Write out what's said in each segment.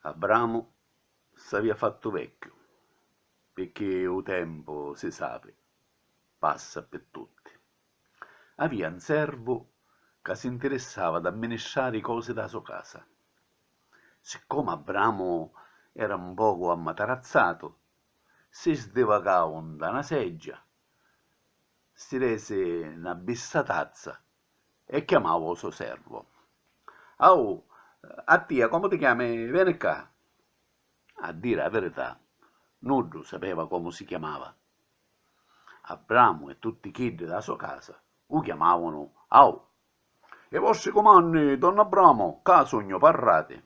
Abramu s'avia fattu vecchiu, pirchì u tempu, si sapi, passa pi tutti. Avia un servu ca si ntirissava d'amministrari i cosi dâ so casa. Siccomu Abramu era un pocu ammatarazzatu, si sdivacau nta na seggia si resi 'na bissa tazza e chiamau o so servu. Ahu, a tia comu ti chiami, veni ccà! A diri 'a virità, nuddu sapeva comu si chiamava. Abramu e tutti chiddi dâ so casa u chiamavanu Ahu. I vostri cumanni, don Abramu, ccà sugnu parrati.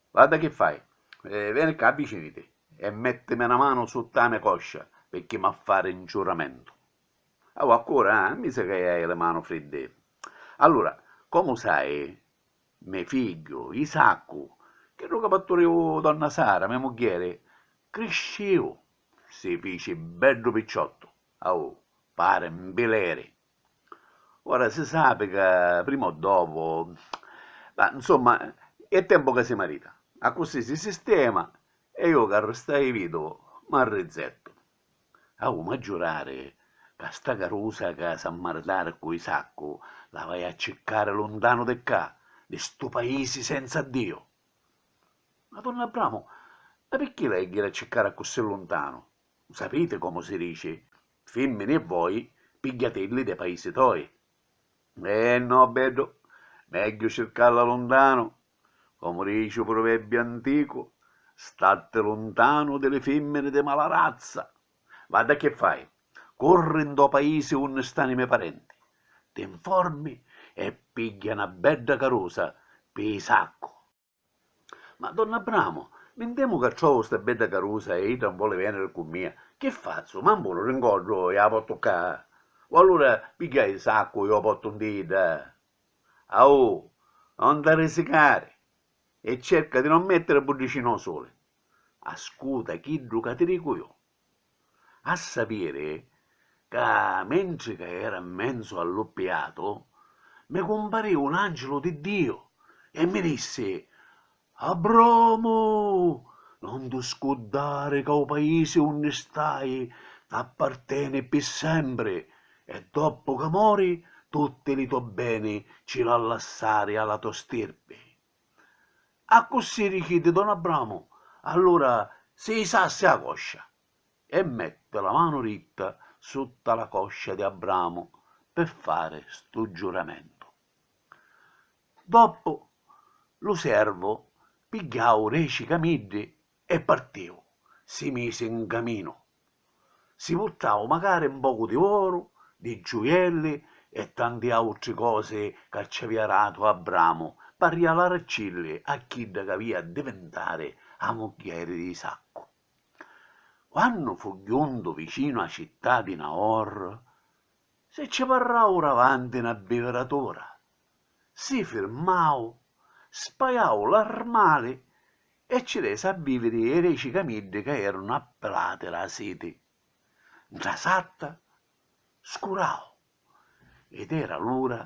Guarda chi fai, veni ccà viciniti e mettimi na manu sutta a me coscia pirchì m'ha fari un ciuramentu. Ahu accura, ah, mi sa chi hai li manu friddi. Allura, comu sai, me figghiu, Isaccu, chiddu ca parturìu donna Sara, me mugghieri, criscìu, si fici beddu picciottu, ahu, pari 'n pileri. Ora si sapi ca prima o dopu. Ma, nsumma, è tempu ca si marita. Accussì si sistema e iu ca ristai viduvu m'arrizettu. Agu m'ha giurari ca sta carusa ca s'ha maritari cu Isaccu la vai a ciccari luntanu di ccà, di stu paisi senza Ddiu. Ma Don Abbramu, ma picchì l'hai a jiri a ciccari accussì luntanu? Sapiti comu si dici Fimmini e voi pigghiatilli dê paisi toi. Eh no, beddu, megghiu circalla luntanu, comu dici u pruvebbiu anticu, statti luntanu di li fimmini di mala razza. Vadda chi fai, curri ntô paisi unni stani i me parenti, ti nformi e pigghia na bedda carusa pi i saccu. Ma don Abramu, mi ntemu ca trovu sta bedda carusa e idda 'un voli veniri cu mia, chi fazzu? M'ambulu di 'ngoddu e a pottu ccà? O allura pigghia i saccu e o pottu nti idda? Ahu, non t'arrisicari e cerca di non mettiri buddicina o suli. Ascuta chiddu ca ti dicu ju. A sapiri ca mentri ca era 'mmenzu a lu piatu, mi cumparìu l'Àncilu di Diu e mi dissi, Abramu, non ti scuddari ca u paisi unni stai t'apparteni ppi sempri e doppu ca mori tutti li to beni ci l'ha lassari a la to stirpi. Accussì richieddi don Abramu, allura si jisassi a coscia. E metti la manu ritta sutta la coscia di Abramu pi fari stu giuramentu. Doppu lu servu pigghiau deci camiddi E partiu, si misi 'n caminu. Si purtau macari 'n pocu di oru, di giuielli e tanti autri cosi ca ci avia datu Abramu p'arrialaricilli a chidda c'avia a divintari a mugghieri di Isaccu. Quannu fu juntu vicinu a città di Naor, si ci parrau davanti 'na biviratùra si firmau, spajau l'armali e ci resi a vìviri i reci camiddi ca erunu appilati dâ siti. Ntra satta scurau ed era l'ura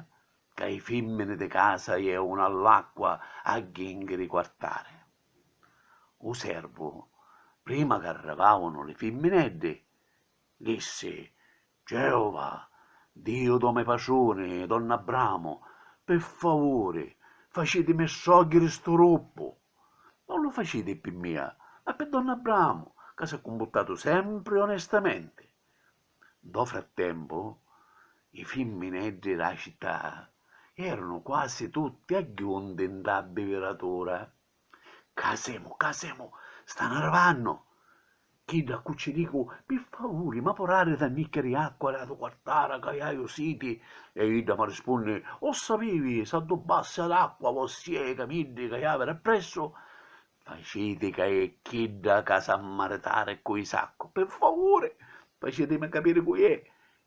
ca i fìmmini di casa jèunu all'acqua a jìnghiri i quartari. U servu, prima ch'arrivàunu li fimmineddi, dissi Geova, Diu do me patruni, don Abramu, pi favuri, facitimi strògghiri stu ruppu. Non lu faciti pi mia, ma pi don Abramu, ca s'è cumputtatu sempri onestamenti. Ntô frattempu, i fimmineddri dâ cità eranu quasi tutti agghiunti ntâ biviratura. Ccà semu, ccà semu, stannu arrivannu! Chiddu a cu cci dicu, Pi favuri, ma porari da nniccheri acqua ra du quartara ca haju siti? E idda m'arrispunni, O sapivi, s'addubbassi ad acqua vossìa e i camiddi ca havi d'appressu? Faciti ca è chidda ca sa maritari cu i saccu, pi favuri, facitimi capiri cu i è,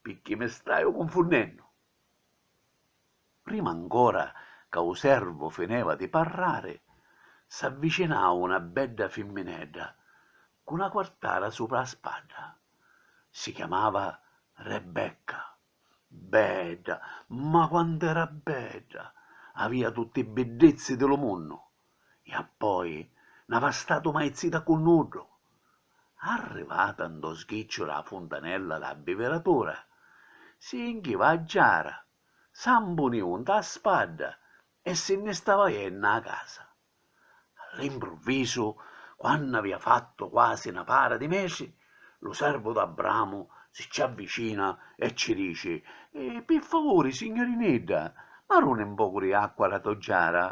picchì mi staju cunfunnennu! Prima ancora ca u servu fineva di parrari, s'avvicinau na bedda fimminedda cu na quartara supra a spadda. Si chiamava Rebecca. Bedda, ma quant'era bedda! Avia tutti i biddizzi di lu munnu e appoi n'ava statu mai zita cu nuddu. Arrivata ntô sgicciu dâ funtanella dâ biviratura, si jinchiva a giara Sa mpuniu nta a spadda e si nni stava jennu a casa. All'impruvisu, quannu avia fattu quasi na para di metri, lu servu d'Abramu si ci avvicina e ci dici, Pi favuri, signurinidda, m'aruni n pocu di acqua d'a to giara?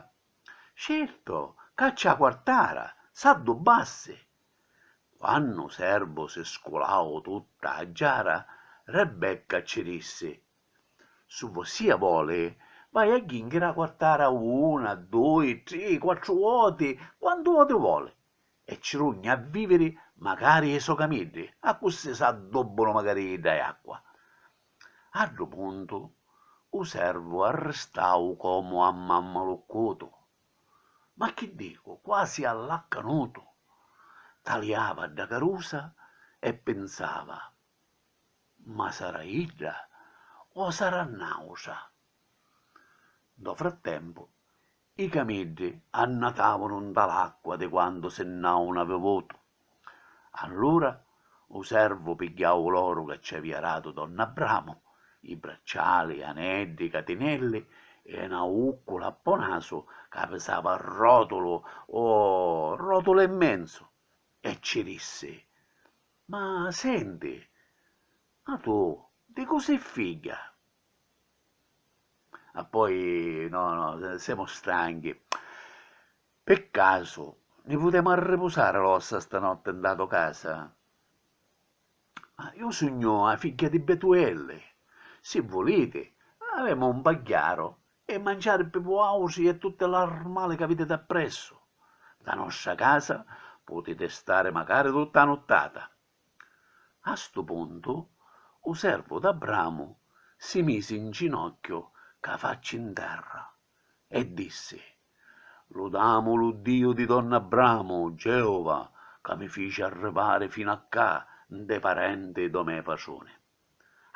Certu, caccia a quartara, s'addubbassi! Quannu u servu si sculau tutta a giara, Rebecca ci dissi, Su vossia voli, vai a jinchiri a quartara una, dui, tri, quattru voti, quantu voti voli, e ci rugni a viviri macari i so camiddi, accussì s'addobbunu macari idda e acqua. A ddu puntu, u servu arristau comu ammammaluccutu, ma chi dicu, quasi allaccanutu, taliava dda carusa e pinsava, Ma sarà idda o sarà n'àutra? Ntô frattempu, i camiddi annatàvunu nta l'acqua di quantu si nn'àunu avivutu. Allura u servu pigghiau l'oru ca ci avìa datu don Abramu, i bracciali, aneddi, catinelli e na ùccula a po' nasu ca pisava ròtulu o ròtulu e menzu, e ci dissi, Ma senti, ma tu di cu' si' figghia? Ah, poi, no, no, semu stanchi. Pi casu ni putemu arripusari l'ossa stanotti nta to casa? Iu sugnu 'a figghia di Betuelli. Si vuliti, avemu un pagghiaru E manciari pi vuautri e tutti l'armali ca viditi appressu. Nta nostra casa putiti stari macari tutta a nuttata. A stu puntu u servu d'Abramu si misi in ginocchiu ca facci in terra e dissi, Ludamu lu Diu di donna Abramu, Geova, ca mi fici arrivari finu a cca, nta i parenti do me patruni.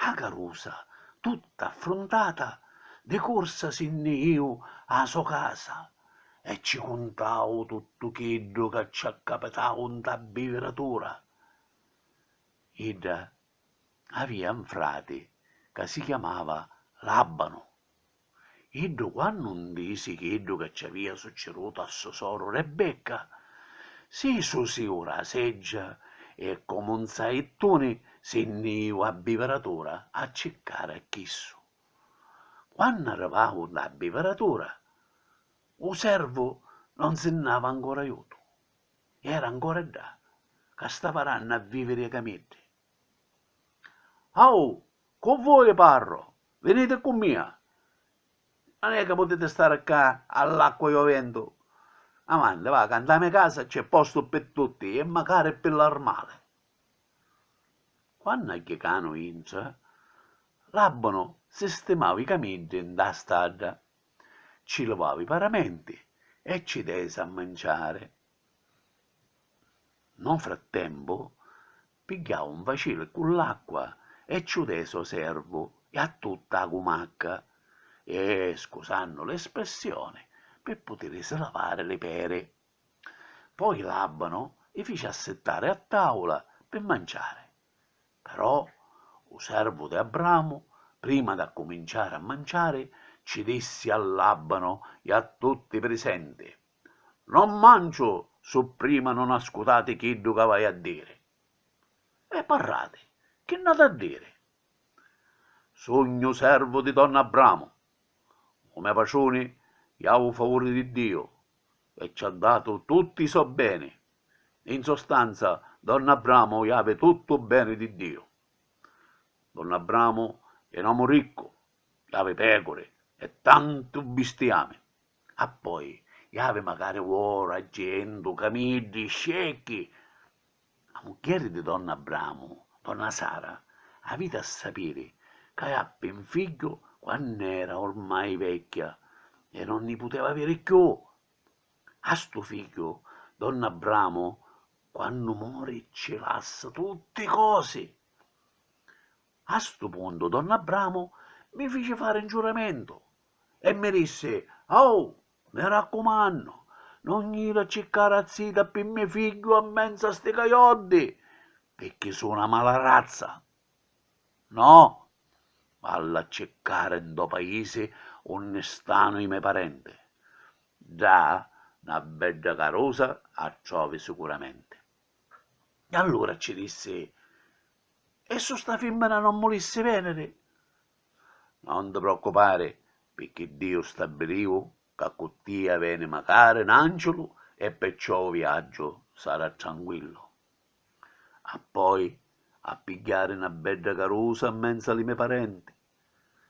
A carusa tutta affruntata di cursa si nni iu a la so casa e ci cuntau tuttu chiddu ca ci accapitau nta biviratura. Idda avia 'n frati ca si chiamava Labanu. Iddu quannu ntisi chiddu ca ci avia succidutu a so soru Rebecca, si susiu ra seggia e comu un saittuni si nni iu a biviratura a ciccari a chissu. Quannu arrivau nta a biviratura, u servu non si nn'ava ancora iutu, era ancora ddà ca stava rannu a viviri a camiddi. Ahu, cu vui parru, viniti cu mia! Non è ca putiti stari ccà all'acqua e ô ventu. Avanti, va, ca nta me casa c'è postu pi tutti e macari pi l'armali. Quannu a Chicanu intra, l'abbanu sistimau i camiddi ntâ stadda, cci livau i paramenti e cci desi a manciari. No frattempu, pigghiau un facili ccu l'acqua e ciu desi o servu e a tutta a gumacca e, scusannu l'espressioni, pi putirisi lavari li peri. Poi l'Abbanu i fici assittari a tavula pi manciari. Però u servu di Abramu, prima d'accuminciari a manciari, ci dissi all'Abbanu e a tutti i prisenti. Non manciu su prima non ascutati chiddu ca v'haiu a diri. E parrati, chi nn'hatu a diri? Sugnu servu di don Abramu, u me patruni iau u favuri di Diu e ci ha datu tutti i so beni, in sostanza don Abramu iavi tuttu u beni di Diu. Don Abramu è n'omu riccu, iavi pecuri e tantu bistiami. Appoi iavi macari uoru a cientu camiddi scecchi! A mugghieri di don Abramu, donna Sara, aviti a sapiri ca jappi 'n figghiu quann'era ormai vecchia e non ni puteva aviri cchiù. A stu figghiu don Abramu quannu mori cci lassa tutti cosi. A stu puntu don Abramu mi fici fari 'n giuramentu E mi dissi, Ahu, mi raccumannu, non jiri a circari a zita pi me figghiu a menzu a sti cajoddi, pirchì su' 'na mala razza. No, vallu a circari ntô paisi unni stanu i me parenti. Ddà 'na bedda carusa a trovi sicuramenti. E allura ci dissi, E su sta fimmina non mulissi veniri? Non ti preoccupari, picchì Diu stabiliu ca cu tia veni macari n'angiulu e perciò u viaggiu sarà tranquillu. Appoi a pigghiari na bedda carusa mmenza li me parenti.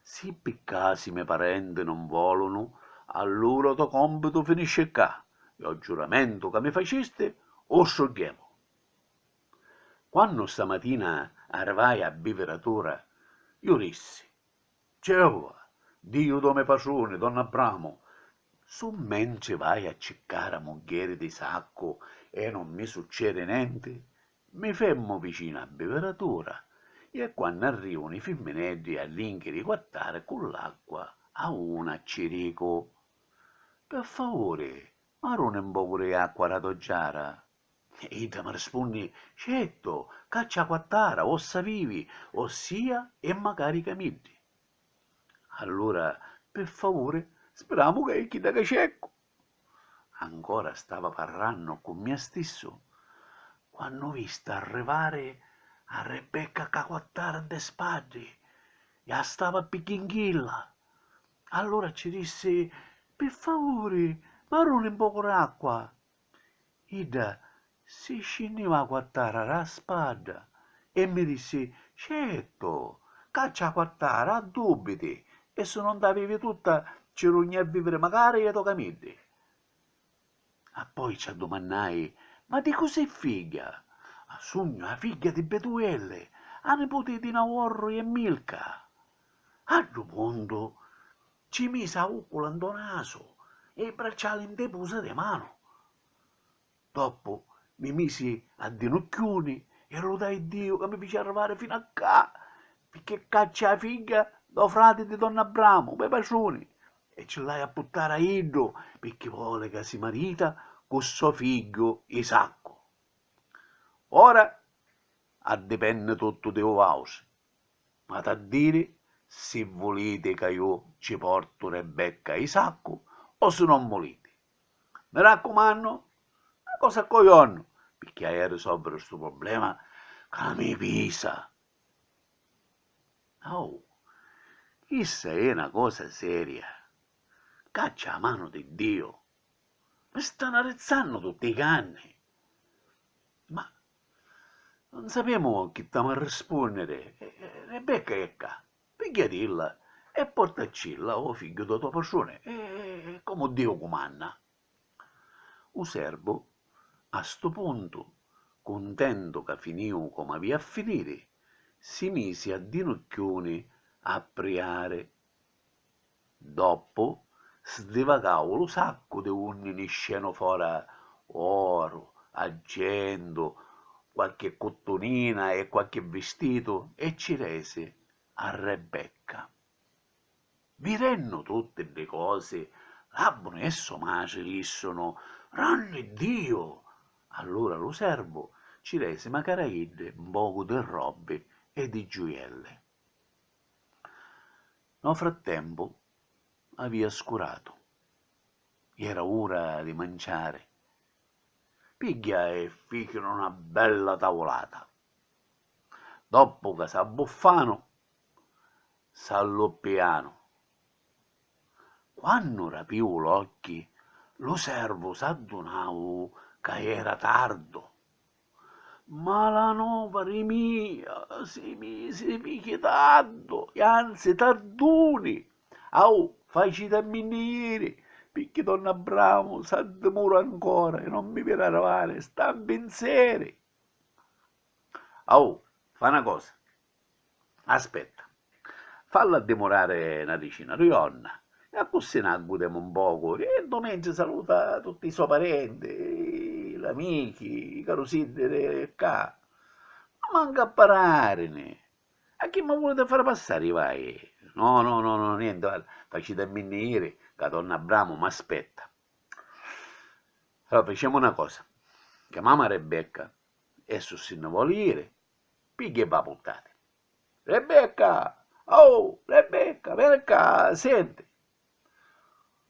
Si pi casi i me parenti non volunu, allura u to compitu finisci ccà e o giuramentu ca mi facisti u strugghiemu. Quannu sta matina arrivai a biviratura, ju rissi, Geova, Diu do me patruni, don Abramu, su mentri vai a ciccara a muggheri di Isaccu e non mi succedi nenti, mi femmu vicinu a biviratura i e quannu arrivunu i fimmineddi a linchi di quattari cu l'acqua a una ci dicu, Pi favuri maruni 'n pocu di acqua ra to giara. E idda mi rispunni, Certu, ccà c'è 'a quattara, ossa vivi, ossia è macari ca middi. Allura, pi favuri, spiramu ca è chidda ca cercu! Ancora stava parrannu cu mia stissu, quannu vista arrivari a Rebecca ccà quattara ntê spaddi, e a stava a pigghinghilla. Allura ci dissi, Pi favuri, m'arruni 'n pocu d'acqua! Idda si scinniu 'a quattara d' 'a spadda e mi dissi, Certu, caccia 'a quattara, a dubbiti, e si nun d'a vivi tutta ci rugni a viviri macari e tocamiddi. Appoi ci addumannai, Ma di cu' si' figghia? Sugnu 'a figghia di Betuelli, 'a niputi di Naorru e Milca. A ddu puntu, Ci misi a uccula ntô nasu e i bracciali ntê pusa dê manu. Doppu mi misi a dinucchiuni e ludai Diu ca mi fici arrivari finu a ccà, picchì ccà cc'è a figghia dô frati di don Abramu, me patruni, e ci l'haju a puttari a iddu, picchì voli ca si marita cu sò figghiu Isaccu. Ora addipenni tuttu di vausi. M'hati a diri si vuliti ca ju ci portu Rebecca i saccu o si non vuliti. Mi raccumannu, na cosa a cojonnu, picchì haju a risolviri stu problema ca mi pisa. Au, chissa è na cosa seria. Cacci a manu di Diu. Mi stanu arrizzannu tutti i canni. Ma Nun sapemu chi t'amu a rispunniri. Rebecca è ccà, pigghiatilla e portaccilla ô figghiu dô to patruni, comu Diu cumanna. U servu, a stu puntu, cuntentu ca finìu comu avìa a finiri, si misi a dinucchiuni a priari. Doppu sdivacau lu saccu di unni niscenu fora oru, aggendu, qualchi cuttunina e qualchi vistitu e cci resi a Rebecca. Vidennu tutti ddi cosi, Labbuni e so matri dissunu, Granni Diu! Allura lu servu cci resi macaraiddi 'n pocu di robbi e di giuielli. No frattempu avia scuratu. Iera ura di manciari. Pigghia e ficiru na bella tavulata. Doppu ca s'abbuffanu, s'alluppianu. Quannu rapiu l'occhi, lu servu s'addunau ca iera tardu. Malanova ri mia, si misi picchi tantu, e anzi tantuni! Au, faciti a minni jiri, picchi don Abbramu s'addimura ancora e non mi viri arrivari, sta 'n pinzeri! Au, fa' 'na cosa, Aspetta. Fallu addimurari na dicina di jorna e accussì na gudemu un pocu e ddu mentri saluta tutti i so parenti, l'amichi, i carusiddi di ccà. Ma mancu a pararini! A chi mi vuliti fari passari i vai? No, no, no, nienti, facitaminni jiri ca Don Abbramu m'aspetta. Allura ficiamu na cosa, chiamamu a Rebecca e, su si nni voli jiri, Pigghia e va puntati. Rebecca! Aoh! Rebecca, veni ccà, senti!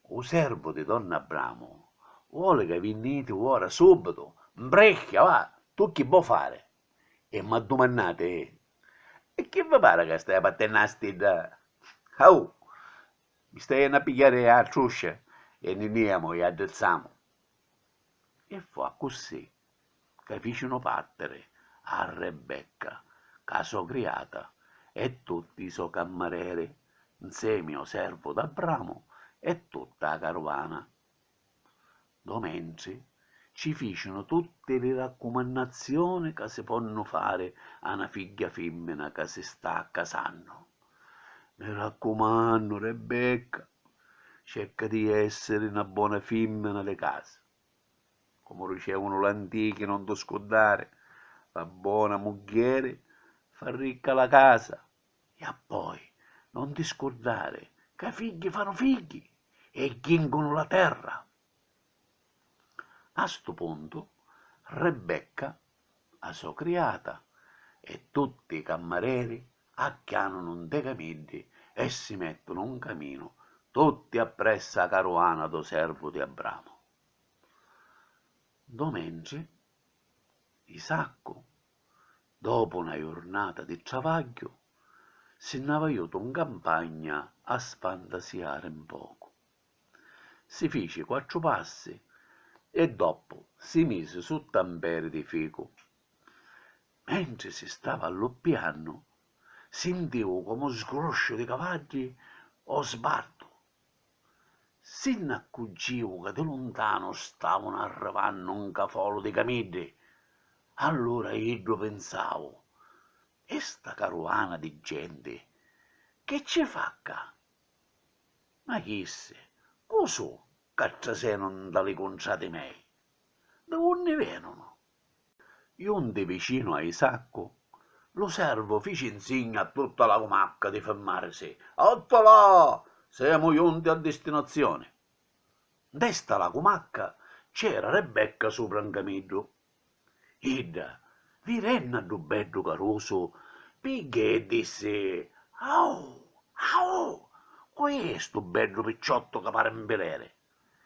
U servu di don Abbramu voli ca vinniti ora, subitu! Mbricchia, va! Tu chi vo' fari? E m'addumannati? E chi vi pari ca staiu battennu a stidda? Aoh! Mi staiu jennu a pigghiari a truscia e nni niamu e addrizzamu. E fu accussì ca ficinu partiri a Rebecca ca a so criata e tutti i so cammareri, nsemi o servu d'Abramu e tutta a caruvana. Ddo mentri ci ficinu tutti li raccumannazioni ca si ponnu fari a na figghia fimmina ca si sta casannu, Mi raccumannu, Rebecca, cerca di essiri na bona fimmina di casa. Comu dicevunu l'antichi non tu scuddari, la bona muggheri fa ricca la casa e appoi non ti scurdari ca i figghi fanu figghi e jingunu la terra. A stu puntu Rebecca a so criata e tutti i cammareri acchianunu nte camiddi e si mettunu n caminu tutti appressa a caruana do servu di Abramu. Ndo mentri, Isaccu, dopu na jurnata di travagghiu, si nn'ava jutu n campagna a sfantasiari n pocu. Si fici quattru passi e doppu si misi sutta un peri di ficu. Mentri si stava alluppiannu, sintiu comu un sgrusciu di cavaddi ô sbartu. Si nn'accuggìu ca di luntanu stavunu arrivannu un cafolu di camiddi. Allura iddu pinsau, E sta caruana di genti chi cci fa cca? Ma chissi cu su' ca trasenu nta li cuntrati mei? Di unni venunu? Junti vicinu a Isaccu, lu servu fici nsigna a tutta la cumacca di firmarisi, Otto là! Semu junti a distinazioni. Ntesta la cumacca c'era Rebecca supra 'n camiddu Idda, vidennu a ddu beddu carusu, pigghia e dissi, Ahu! Ahu! Cu è stu beddu picciottu ca pari 'n pileri,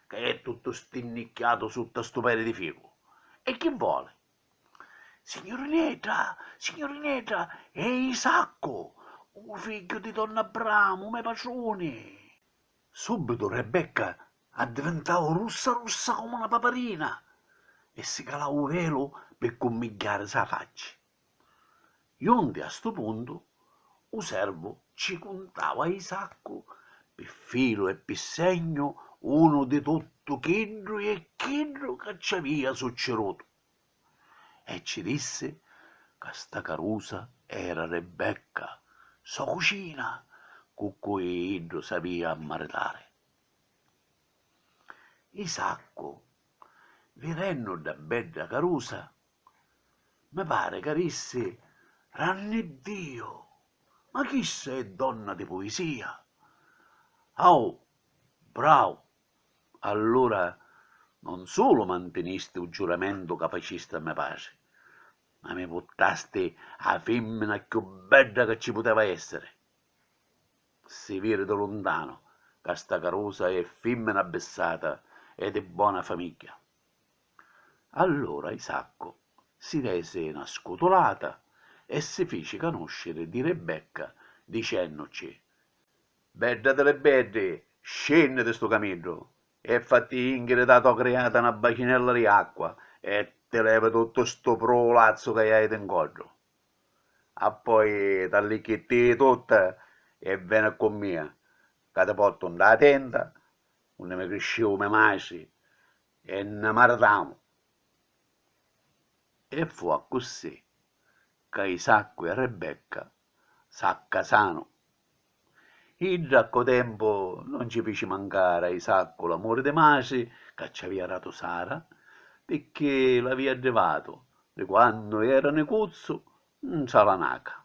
ca è tuttu stinnicchiatu sutta stu peri di ficu? E chi voli? Signurinedda! Signurinedda! È Isaccu, u figghiu di don Abramu, me patruni! Subitu Rebecca Addivintau russa russa comu na paparina e si calau u velu pi cummigghiarisi a facci. Junti a stu puntu, u servu ci cuntau a Isaccu pi filu e pi segnu unu di tuttu chiddu e chiddu ca ci avia succirutu e ci dissi ca sta carusa era Rebecca, so cucina, cu cui iddu s'avia a maritari. I saccu, vidennu dda bedda carusa, mi pari ca dissi, Ranni Diu! Ma chissa è donna di puisia! Au! Brau! Allura non sulu mantinisti u giuramentu ca facisti a me patri, ma mi purtasti a fimmina cchiù bedda ca ci puteva essiri! Si viri do luntanu ca sta carusa è fimmina abbissata e di bona famigghia. Allura Isaccu si resi na scutulata e si fici canusciri di Ribecca dicennuci, Bedda di li beddi, scinni di stu camiddu e fatti jinchiri da to criata na bacinella di acqua e ti levi tuttu stu prulazzu ca hai di 'ncoddu. Appoi t'allicchitti tutti e veni cu mia, ca ti portu nta la tenda unni mi criscìu me matri e nni maritamu. E fu accussì ca Isaccu e Rebecca s'accasanu Idda a ccu tempu non ci fici mancari a Isaccu l'amuri di matri ca cci avia datu Sara, picchì l'avia addivatu di quannu era nicuzzu ntra la naca.